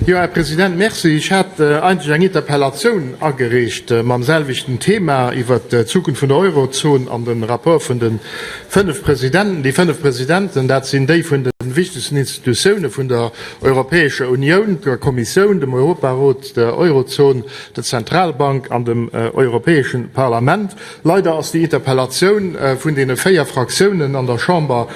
Jo, Här President, merci. Ech hat eigentlech eng Interpellatioun agereecht mam selwechten Thema iwwert d'Zukunft vun der Eurozon an de Rapport vun de fënnef Presidenten. Déi fënnef Presidenten, dat sinn déi vun de wichtegsten Institutioune vun der Europäescher Unioun, der Kommissioun, dem Europarot, der Eurozon, der Zentralbank an dem Europäesche Parlament. Leider ass déi Interpellatioun vun deene véier Fraktiounen an der Chamber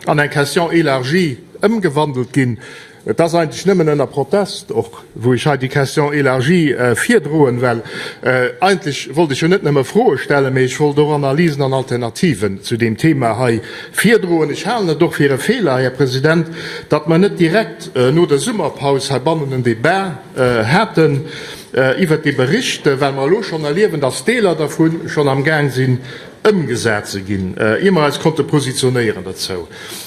an eng Question élargie ëmgewandelt ginn. Et ass eigentlech nëmmen ënner Protest och, wou ech hei déi Question élargie virdroen, well eigentlech wollt ech jo net nëmme Froe stellen, mee ech wollt och Analysen an Alternativen zu deem Thema hei virdroen. Ech halen et och fir e Feeler, Här President, datt mer net direkt no der Summerpaus heibannen en Débat haten iwwert dee Bericht, well mer elo schonn erliewen, datt Deeler dervu schonn amgaang sinn, Ëmgesat ze ginn, ier mer eis konnte positionéieren dozou.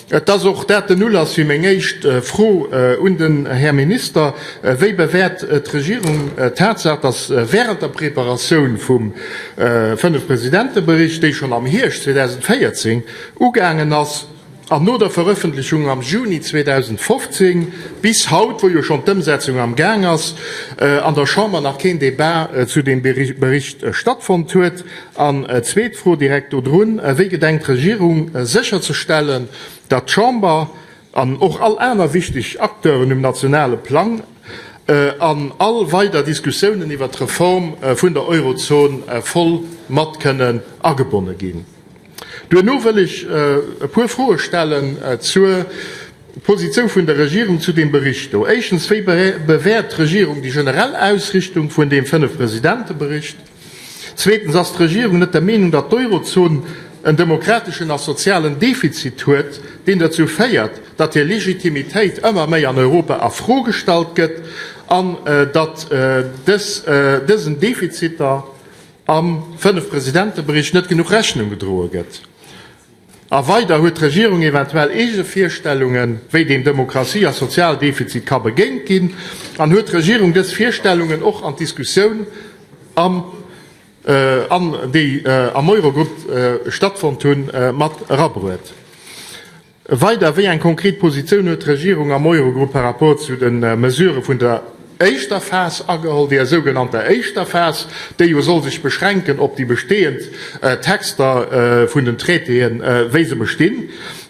Et ass och dat den Ulass fir meng éischt Fro un den Här Minister, Wéi bewäert d'Regierung d'Tatsaach, dass während der Preparatioun vum Fënnef-Presidente-Bericht, déi schonn am Hierscht 2014 ugaangen ass, an no der Verëffentlechung am Juni 2015 bis haut, wou jo schonn d'Ëmsetzung am Gaang ass, an der Chamber nach keen Debat zu deem Bericht stattfonnt huet? An zweet Fro direkt dodrun, Wéi gedenkt d'Regierung sécherzestellen, datt d'Chamber an och all aner wichteg Acteuren um nationale Plang an all weider Diskussiounen iwwert d'Reform vun der Eurozon voll mat kënnen agebonne ginn? Duerno wëll ech e puer Froe stellen zur Positioun vun der Regierung zu deem Bericht do. Éischtens, Wéi bewäert d'Regierung déi generell Ausrichtung vun deem Fënnef-Presidente-Bericht? Zweetens, Ass d'Regierung net der Meenung, datt d'Eurozon en demokrateschen a sozialen Defizit huet, deen dozou féiert, datt hir Legitimitéit ëmmer méi an Europa a Fro gestallt gëtt an datt dësen Defiziter, am Fënnef-Presidente-Bericht net genuch Rechnung gedroe gëtt. A weider huet d'Regierung eventuell eege Virstellungen, wéi deem Demokratie a Sozialdefizit ka begéint ginn, an huet d'Regierung dës Virstellungen och an d'Diskussioun am an déi am Eurogrupp stattfonnt hunn, mat erabruet. Weider, Wéi eng konkret Positioun huet d'Regierung am Eurogrupp par rapport zu de Mesurë vun der éischter Phas ageholl, där sougenannter éischter Phas, déi jo soll sech beschränken op déi bestehend Texter vun den Traitéen, wéi se bestinn?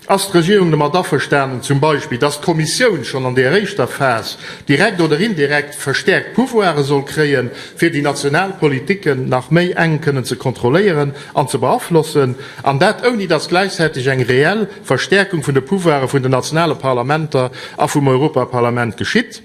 Ass d'Regierung domat averstanen, zum Beispill, dass d'Kommissioun schonn an där éischter Phas direkt oder indirekt verstärkt Pouvoire soll kréien, fir déi national Politiken nach méi enk kënnen ze kontrolléieren? an ze beaflossen, an dat ouni datt gläichzäiteg eng reell Verstäerkung vun de Pouvoire vun den nationale Parlamenter a vum Europaparlament geschitt?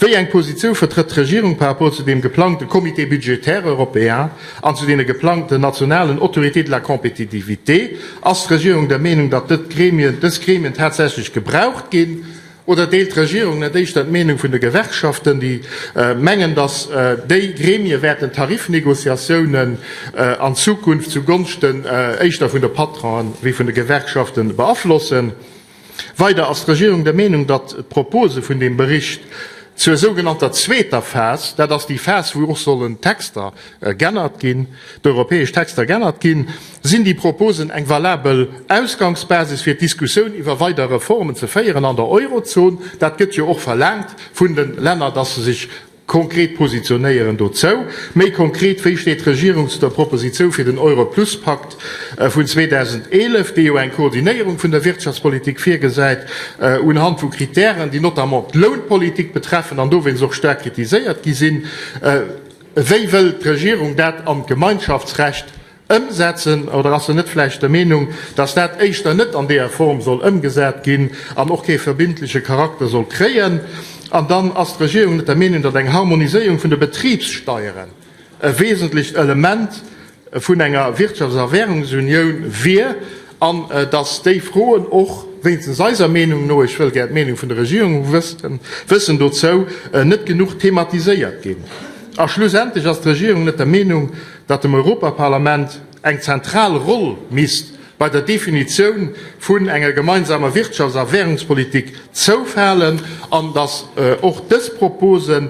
Wéi eng Positiou vertrëtt d'Regierung par rapport zu deem geplangte Comité budgétaire européen an zu deene geplangten nationalen Autorités de la compétitivité? Ass d'Regierung der Meenung, datt dës Gremien tatsächlech gebraucht ginn, Oder deelt d'Regierung net éischter d'Meenung vun de Gewerkschaften, déi mengen, datt déi Gremie wäerten d'Tarifnegociatiounen an Zukunft zu Gonschten éischter vun de Patronen wéi vun de Gewerkschaften beaflossen? Weider ass d'Regierung der Meenung, datt d'Propose vun deem Bericht zur sougenannter zweeter Phas, dat ass déi Phas, wou och sollen d'Texter g'ännert ginn, d'europäesch Texter g'ännert ginn, sinn déi Proposen eng valabel Ausgangsbasis fir d'Diskussioun iwwer weider Reformen ze féieren an der Eurozon. Dat gëtt jo och verlaangt vun de Länner, dass se sech konkret positionéieren dozou. Méi konkret, wéi steet d'Regierung zu der Propositioun fir den Euro-Plus-Pakt vun 2011, dee jo eng Koordinéierung vun der Wirtschaftspolitik virgesäit unhand vu Kritären, déi notamment d'Lounpolitik betreffen an dowéinst och staark kritiséiert gi sinn? Wéi wëll d'Regierung dat an d'Gemeinschaftsrecht ëmsetzen? Oder ass se net vläicht der Meenung, datt dat éischter net an deeër Form soll ëmgesat ginn an och kee verbindleche Charakter soll kréien? An dann, ass d'Regierung net der Meenung, datt eng Harmoniséierung vun de Betribssteieren e wesentlecht Element vun enger Wirtschafts a Währungsunioun wier, an datt déi Froen och, wéinstens eiser Meenung no, ech wëll gär d'Meenung vun der Regierung wëssen dozou, net genuch thematiséiert ginn. A schlussendlech ass d'Regierung net der Meenung, datt dem Europaparlament eng zentral Roll misst bei der Definitioun vun enger gemeinsamer Wirtschafts a Währungspolitik zoufalen, an datt och dës Propose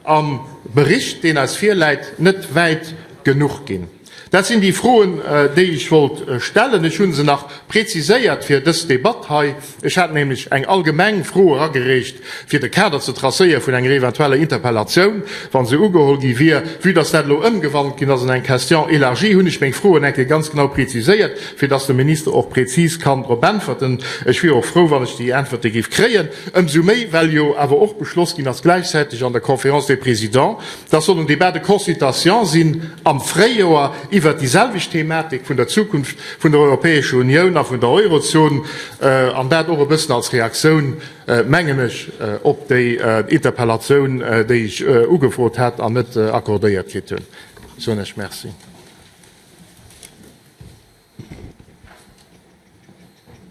am Bericht, deen eis virläit, net wäit genuch ginn. Dat sinn déi Froen, déi ech wollt stellen. Ech hu se nach preziséiert fir dës Debatt hei. Ech hat nämlech eng allgemeng Fro eragereecht, fir de Kader ze tracéieren vun enger eventueller Interpellatioun, wa se ugeholl gi wier. Vue dass dat elo ëmgewandelt ginn ass an eng Question élargie, hunn ech meng Froen eng Kéier ganz genau preziséiert, fir dass de Minister och prezis kann drop äntwerten. Ech wier och frou, wann ech déi Äntwerte géif kréien. Ëmsou méi, well jo awer och beschloss ginn ass, gläichzäiteg an der Conférence des Présidents, dass soll en Débat de consultation sinn am Fréijoer iwwert déi selwecht Thematik vun der Zukunft vun der Europäescher Unioun a vun der Eurozon, an dat och e bëssen als Reaktioun, mengen ech, op déi Interpellatioun, déi ech ugefrot hat an net accordéiert kritt hunn. Soen ech Merci.